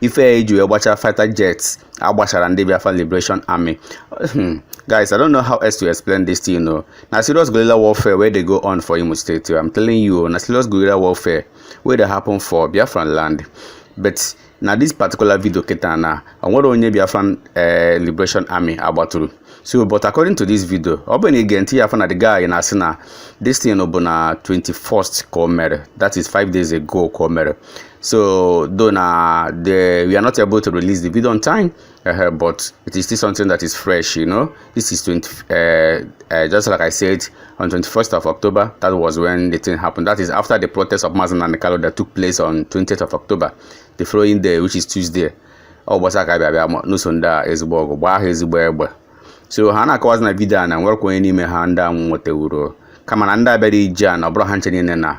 ife ya iji wee gbachara fighter jets agbachara ndị Biafra Liberation Army hmm, guys I don't know how else to explain this thing o na serious guerrilla warfare wey dey go on for Imo State I'm telling you na serious guerrilla warfare wey dey happen for Biafra land but na this particular video kịta na onwere onye Biafran eh, Liberation Army agbatụrụ so but according to this video ọ bụ na ige ntị ya afọ na the guy na-asị na this thing bụ na 21st ka o mere that is 5 days ago ka o mere So though now the, we are not able to release the video on time, uh, but it is still something that is fresh, you know. This is 20, uh, uh, just like I said, on 21st of October, that was when the thing happened. That is after the protest of Mazi Nnamdi Kanu that took place on 20th of October, the following day, which is Tuesday. Ọ gbasa aka bịa bịa nụso ndị a ezigbo ọgụ gbaa ha ezigbo egbe so ha na-akọwazi na vidio a na nwerekwa onye n'ime ha ndị a nwetewuro kama na ndị a bịara ije a na ọ bụrụ ha ncha niile na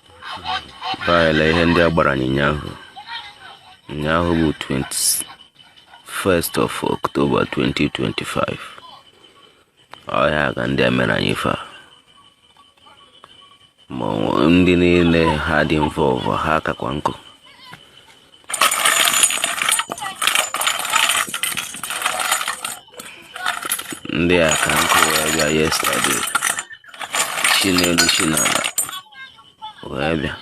Baịla ihe ndị a gbara anyị ụnyaahụ ụnyaahụ bụ 21st of October 2025 ọ ihe a ka ndị a mere anyị fa ma ndị niile ha dị involve ha kakwa nkụ ndị a ka nkụ wee bịa yesterday chi n'elu chi n'ala wee bịa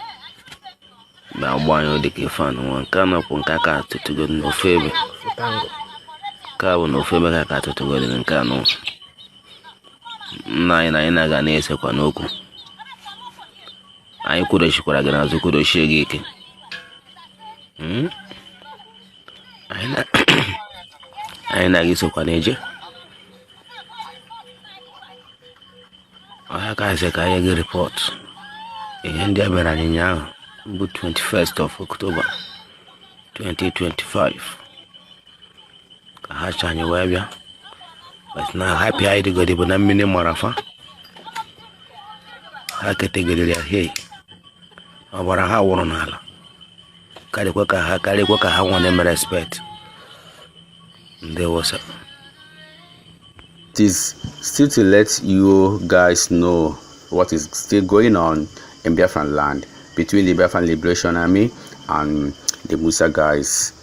bịa gba anyị dịka fa nwa nke a nọkwu nke aka atụtụgo n'ofe ebe nke a bụ na ofe ebe ka aka atụtụgo dị nke anụ nna anyị na anyị na-aga na-esekwa n'okwu anyị kwudochikwara gị n'azụ kwudochie gị ike hmm? anyị na gị sokwa na-eje ọ ya ka a sị ka e nye gị report ihe ndị a mere anyị ụnyaahụ bụ 21st of October 2025 ka ha chọ anyị wee bịa but na happy anyị dịgodi bụ na mmiri mara fa ha ketegidere ya hei ọbara ha wụrụ n'ala karịkwa ka ha karịkwa ka ha nwere mere respect ndị Awụsa It is still to let you guys know what is still going on in Biafran land between the Biafran Liberation Army and the Musa guys.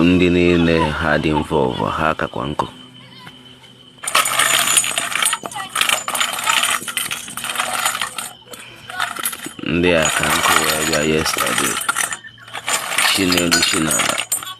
ndị niile ha dị involve ha kakwa nkụ ndị a ka nkụ wee bịa yesterday chi n'elu chi n'ala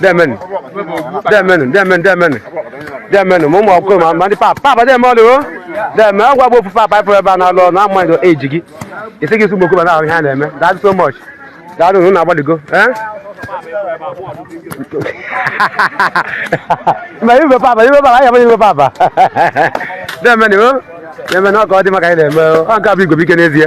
demen demen demen demen demen ma ụmụ akwụkwọ ma- ma ndị papa papa dem ọlụ o dem agwa gbo ofu papa ịpụrụ ebe a na-alụ ọrụ na ama ndo eji gị isi gị sụmokwu ma na-ahụ ihe a na-eme daalụ so much daalụ unu na-agbaligo eh? ma ibe papa ibe papa anya ibe papa demen o demen ọ ka ọ dị maka anyị na-eme o. ọ nke a bụ igwe bụ ike n'ezie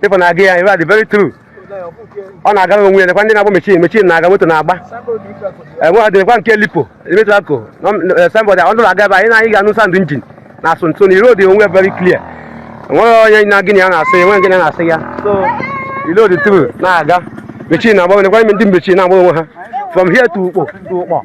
people na-aga ya iwe adị very true ọ na-agara onwe ya nekwa ndị na-agba machine machine na-aga moto na-agba enwe ọ dịrịkwa nke lipo emetụla ko somebody ọ nụrụ aga ebe anyị na anyị ga-anụ sound engine na-asụ so na road dị very clear enweghị onye na gịnị ya na-asị ya enweghị gịnị na-asị ya so road truck na-aga machine na-agba nekwa ndị machine na-agba onwe ha from here to ukpo to ukpo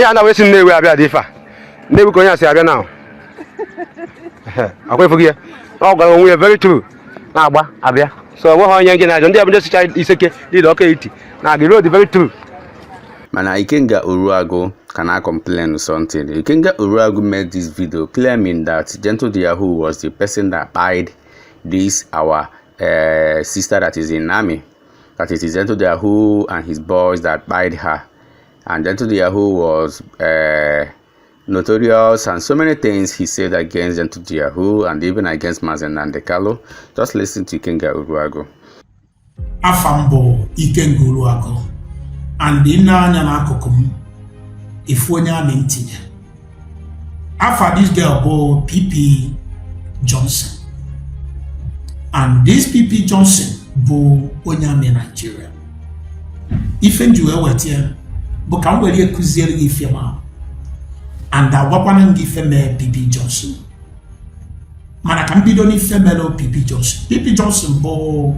ya na wee si nnewi abịa dị ife a nnewi ka onye a si abịa na akwa efu gị ya ọ gbara onwe ya very true na-agba abịa so ọ nweghị onye nje na-ajọ ndị abụja sicha iseke dịda ọka etiti na agị road very true mana ikenga uruagu can i complain something ikenga uruagu made this video claiming that gentle de yahoo was the person that kpaid this our uh, sister that is in army that it is Ento the Yahoo and his boys that buyed her. And Ento the Yahoo was uh, notorious and so many things he said against Ento the Yahoo and even against Mazen Nandekalo. Just listen to Ikenga Uruago. Afambo Ikenga Uruago. And in na-anya n'akụkụ m ifu onye amị ntinye afa this girl bụ pp johnson and this pp johnson bụ onye amị naijiria ife m ji wee weta ya bụ ka m were kuziere gị ife ma and gwakwanụ gị ife mee pp johnson mana ka m bido n'ife mere pp johnson pp johnson bụ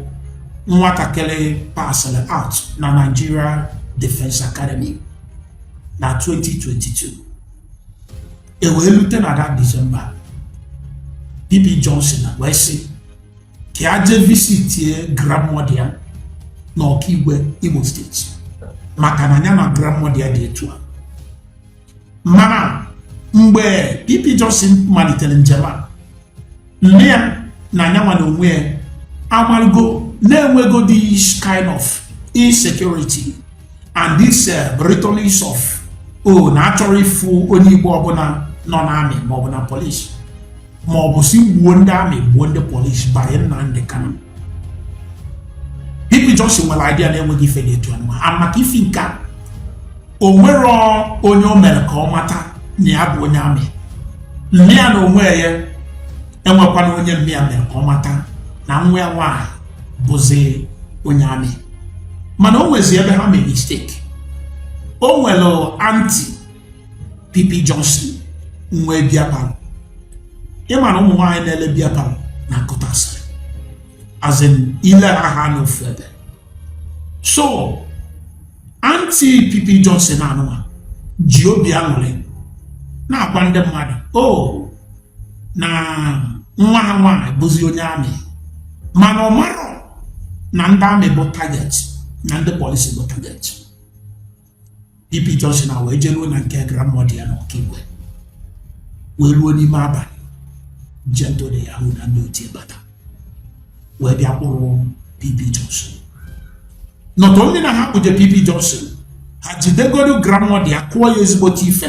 nwatakịrị pasịrị out na nigeria defense academy na 2022 ewee lute na that december pp johnson wee sị ka ya jee visitie grandmother ya na okigwe imo steeti maka na nya na grandmother ya dị etu a mana mgbe pp johnson malitere njem a nne ya na nya nwa na onwe ya amarụgo na enwego this kind of insecurity and this uh, rhetorics of o oh, na achọrọ ịfụ onye igbo ọbụla nọ n'amị maọbụ na polisi maọbụ sị gbuo ndị amị gbuo ndị polisi by Nnamdi Kanu PP Johnson nwere idea na enweghị ife na-etu anụma maka ifi nke a o nwerọ onye o mere ka ọ mata na ya bụ onye amị mma ya na onwe ya enwekwana onye mma ya mere ka ọ mata na nwa ya nwaanyị bụzi onye amị mana o nwezi ebe ha mere mistake o nwere aunty pp johnson nwe beer parlour ịma na ụmụ nwaanyị na-ele beer parlour na nkụta asịrị as in ile ha ha nọ ofu ebe so aunty PP Johnson anụwa ji obi aṅụrị na-agwa ndị mmadụ o oh, na nwa ha nwaanyị bụzi onye amị mana ọ marọ na ndị amị bụ target na ndị polisi bụ target PP Johnson na wee jeruo na nke grandmother ya na Okigwe wee ruo n'ime abalị Gentle de Yahoo na ndị otu ya bata wee bịa kpụrụ PP Johnson not only na ha kpụje PP Johnson ha jidegodo grandmother ya kụọ ya ezigbote ife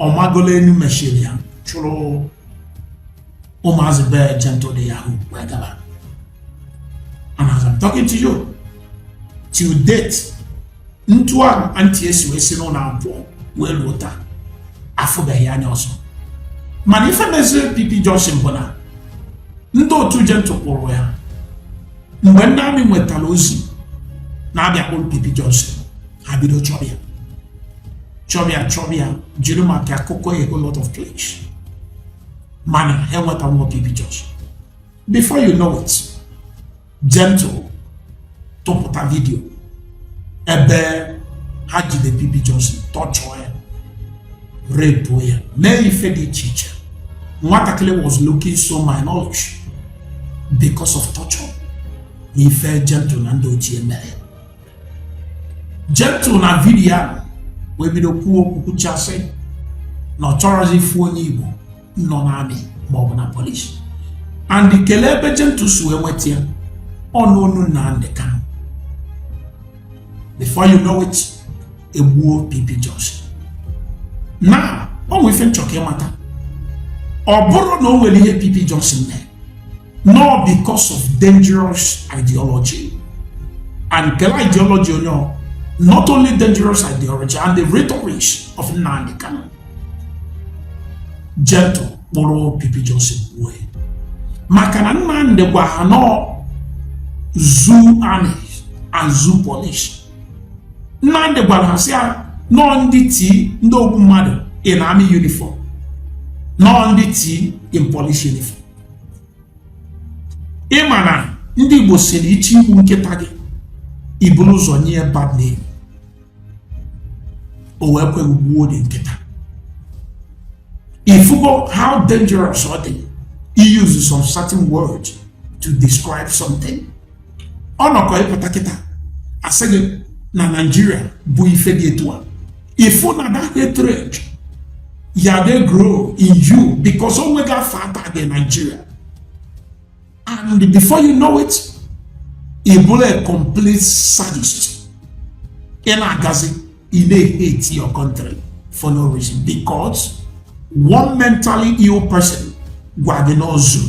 ọ magolu enu machine ya chụrụ ụmụazị be Gentle de Yahoo wee gaba and as I'm talking to you till date etu ahụ aunty ya si wee si n'ụlọ pụọ wee ruo taa afụbeghị ya anya ọzọ mana ife meziri PP Johnson bụ na ndị otu Gentle kpụrụ ya mgbe ndị army nwetara ozi na a bịa kpụrụ PP Johnson ha bido chọba ya chọba ya chọba ya jiri maka akụkọ a whole lot of place mana ha enwetarọ PP Johnson before you know it gentle tụpụta vidio ebe ha jide PP Johnson torture ya rape ya mee ife dị iche iche nwatakịrị was looking so malnourished because of torture na ife gentle na ndị otu ya mere Gentle na vidiyo ahụ wee bido kwuo okwu kwuchasị na ọ chọrọzi ịfụ onye Igbo nọ na army maọbụ na polisi and kelee ebe Gentle si wee nweta ya ọ n'ọnụ Nnamdi Kanu before you know it egbuo PP Johnson na o nwe ife m chọ ka ị mata ọ bụrọ na o nwere ihe PP Johnson mee na ọ because of dangerous ideology and kelee ideology onye ọ not only dangerous ideology and the rhetorics of Nnamdi Kanu gentle kpụrụ PP Johnson wee maka na Nnamdi gwa ha na ọ zoo army and zoo police Nnamdi gwara ha sị ha na ọ ndị T ndị ogbu mmadụ in army uniform na ọ ndị T in police uniform ị ma na ndị Igbo sịrị ị chọ igbu nkịta gị i buru ụzọ nye ya bad name o wee kwe gbuo the nkịta ị fụgo how dangerous ọ dị he uses some certain words to describe something ọ nọkọ ị pụta kịta a sị gị na naijiria bụ ife dị etu a ị fụ na that hatred ya dey grow in you because o nweghị afọ ata dị naijiria and before you know it ị bụrụ a complete sadist ị na-agazi ị na-hate your country for no reason because one mentally ill person gwa gị na ọ zoo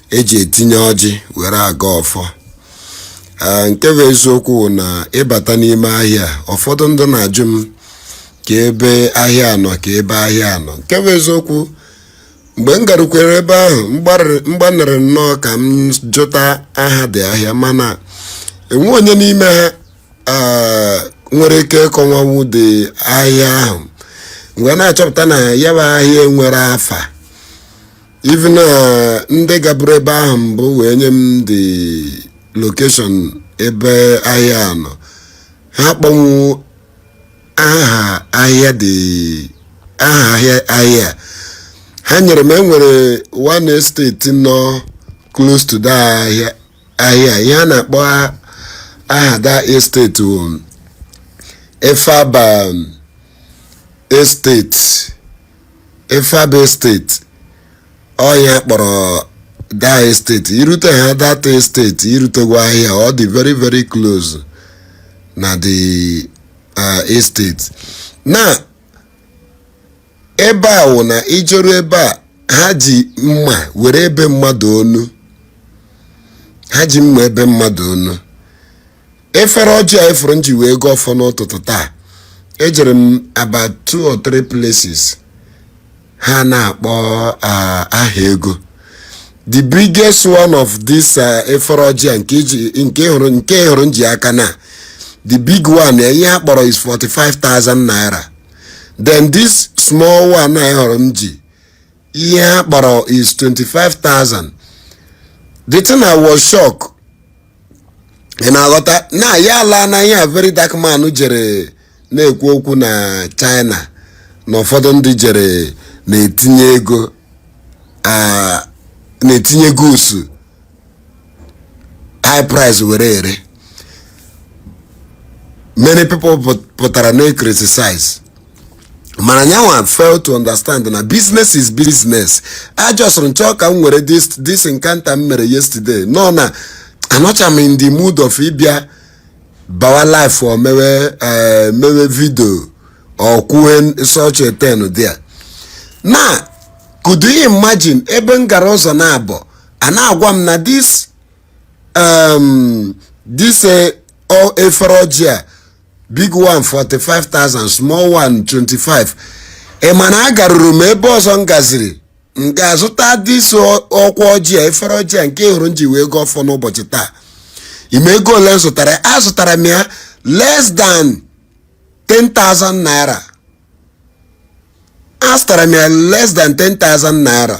eji etinye ọjị were agọ ọfọ Ee, nke bụ eziokwu bụ na ị bata n'ime ahịa a, ụfọdụ ndị na-ajụ m kee ebe ahịa a nọ kee ebe ahịa a nọ nke bụ eziokwu mgbe m garukwere ebe ahụ m gbarịrị- m gbanịrị nnọọ ka m jụta aha the ahịa mana enwe onye n'ime ha ee, nwere ike ịkọwanwu the ahịa ahụ mgbe na-achọpụta na ya bụ ahịa nwere afa even na ndị gaburu ebe ahụ mbụ wee nye m the location ebe ahịa a nọ ha kpọnwu aha ahịa dị aha ahịa ahịa a. ha nyere m e nwere one estate nọ close to that ahịa ahịa a. ihe a na-akpọ a- aha that estate wụ Efab estate Efab estate ọ ya a kpọrọ that estate i rute ha that estate i rutegwo ahịa ọ dị very very close na the uh, estate na ebe a wụ na i jeru ebe a ha ji mma were ebe mmadụ onu ha ji mma ebe mmadụ onu efere ọjị a ị fụrụ m ji wee gọọ ọfọ n'ụtụtụ taa ejere m about two or three places ha na-akpọ ah, aha ego the biggest one of this ah, efere ọjị a nke iji- nke hụrụ nke ị hụrụ m ji aka na the big one ya ihe ha kpọrọ is 45,000 naira then this small one ị hụrụ m ji ihe ha kpọrọ is 25,000 the thing I was shocked ị na-aghọta na ya ala na ihe a Very Dark Man jere na-ekwu okwu na China na ụfọdụ ndị jere na-etinye ego ah, na-etinye goods high price were ere many people pụt- pụtara na-ecriticize mana ya nwa fail to understand na business is business I just m chọ ka m were this this encounter m mere yesterday no na anọcha m in the mood of ịbịa bawa live or mewe eh, mewe video or kwuwe such a thing there now could you imagine ebe m gara ụzọ naabọ a na-agwa m na this um, this eh, o- efere ọjị a big one 45,000 small one 25 ị ma na agaruru m ebe ọzọ m gaziri m gaa zụta this ọkwa ọjị a efere ọjị a nke ị hụrụ m ji wee gọọ ọfọ n'ụbọchị taa ị ma ego ole m zụtara ya? azụtara m ya less than 10,000 naira azụtara m ya less than 10,000 naira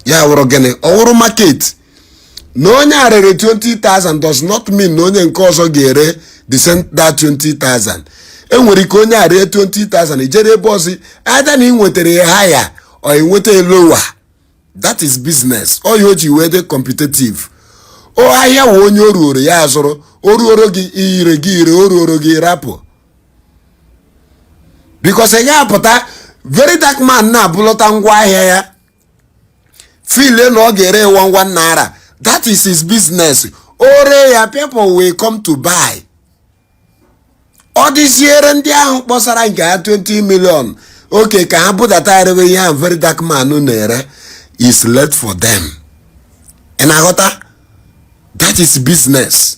ya wụrụ gịnị ọ wụrụ market na onye a rere 20,000 does not mean na onye nke ọzọ ga-ere the same that 20,000 e nwere ike onye a ree 20,000 i jere ebe ọzọ either na ị nwetara ya higher or ị nweta ya lower that is business ọ ya o ji wee dị competitive o ahịa wụ onye o ruoro ya azụrụ o ruoro gị ire gị ire o ruoro gị rapụ because ị ga-apụta very dark man na-ebulọta ngwa ahịa ya feel na ọ ga-ere ya one one naira that is his business o ree ya people will come to buy ọ dịziere ndị ahụ kpọsara nke ha 20 million okay ka ha budata erewe ihe ahụ very dark man na-ere is left for them ị na-aghọta that is business